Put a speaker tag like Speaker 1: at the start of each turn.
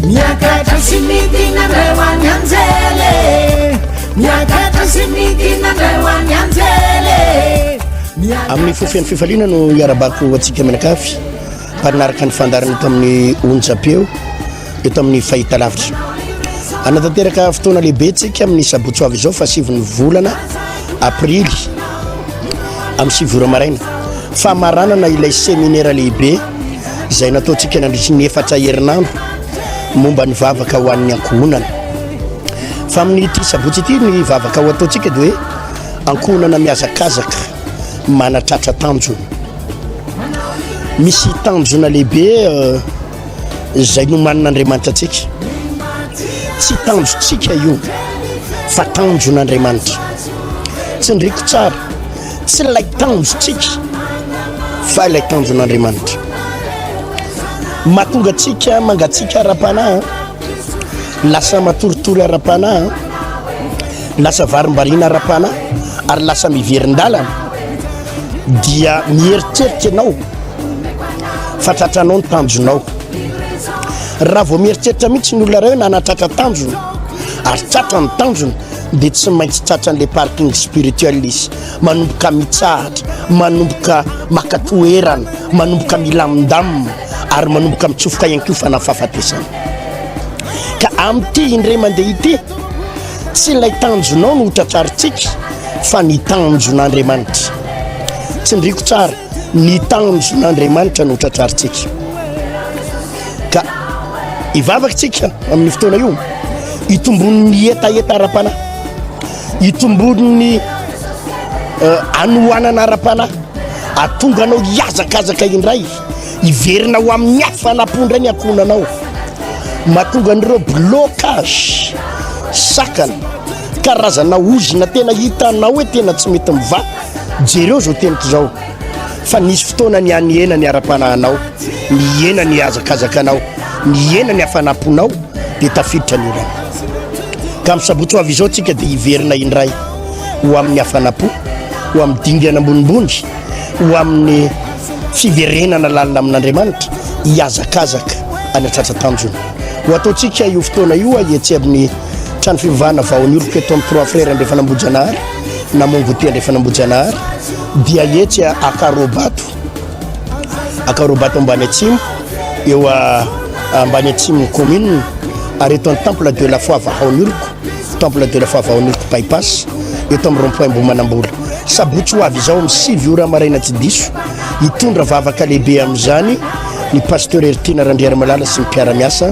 Speaker 1: Miakatra sy midina ndray ho any anjely e Miakatra sy midina ndray ho any anjely e
Speaker 2: Amin'ny fo feno fifaliana no iarabako ho antsika mianakavy mpaninaraka ny fandarana eto amin'ny onjam-peo eto amin'ny fahitalavitra. Anatanteraka fotoana lehibe tsika amin'ny sabotso avy izao fa siviny volana aprily amin'ny sivora maraina famaranana ilay seminera lehibe izay nataontsika nandritry ny efatra herinandro momba ny vavaka ho an'ny ankohonana fa amin'ity sabotsy ity ny vavaka ho ataontsika dia hoe ankohonana mihazakazaka manatratra tanjona misy tanjona lehibe euh, izay nomanin'andriamanitra antsika tsy tanjontsika io fa tanjon'andriamanitra tsy ndriko tsara tsy ilay tanjontsika fa ilay tanjon'Andriamanitra mahatonga antsika mangatsiaka ara-panahy lasa matoritory ara-panahy lasa varimbariana ara-panahy ary lasa miverin-dalana dia mieritreritra ianao fa tratranao ny tanjonao raha vao mieritreritra mihitsy ny olona ray hoe nanatratra tanjona ary tratra ny tanjona dia tsy maintsy tratran'ilay parking spirituel izy, manomboka mitsahatra, manomboka maka toerana, manomboka milamindamina ary manomboka mitsofoka ihany koa fanahy fahafatesana. Ka amin'ity indray mandeha ity, tsy ilay tanjonao no hotratrarintsika fa ny tanjon'Andriamanitra. Tsindriko tsara, ny tanjon'Andriamanitra no hotratrarintsika. ka hivavaka tsika amin'ny fotoana io hitombon'ny hetaheta ara-panahy hitombon'ny eh, anohanana ara-panahy atonga anao hiazakazaka indray hiverina ho amin'ny hafanam-po indray ny ankohonanao mahatonga an'ireo blocage sakana karazana ozina tena hitanao hoe tena tsy mety mivaha jereo zao teniko zao fa nisy fotoana nianihena ny ara-panahanao, nihena ny hazakazakanao, nihena ny hafanam-ponao dia tafiditra ny orana. Ka amin'ny sabotsy ho avy izao tsika dia hiverina indray ho amin'ny hafanam-po, ho amin'ny dingana ambonimbony, ho amin'ny fiverenana lalina amin'Andriamanitra, hihazakazaka any an-tratra tanjona. Ho ataontsika io fotoana io ahetsy amin'ny trano fivavahana vao nioriko eto amin'ny Trois Frères Andrefan'Ambohijanahary. na Mongoty andrefana Ambohijanahary dia etsy Akarobato, Akarobato ambany atsimo, eo ambany atsimon'ny commune, ary eto amin'ny Temple de la Foi Vahaoniloko, Temple de la Foi Vahaoniloko bypass, eto amin'ny rond-point Ambohimanambola. Sabotsy ho avy izao amin'ny sivy ora maraina tsy diso, hitondra vavaka lehibe amin'izany ny Pasteur Heritiana Randriarimalala sy ny mpiara-miasa.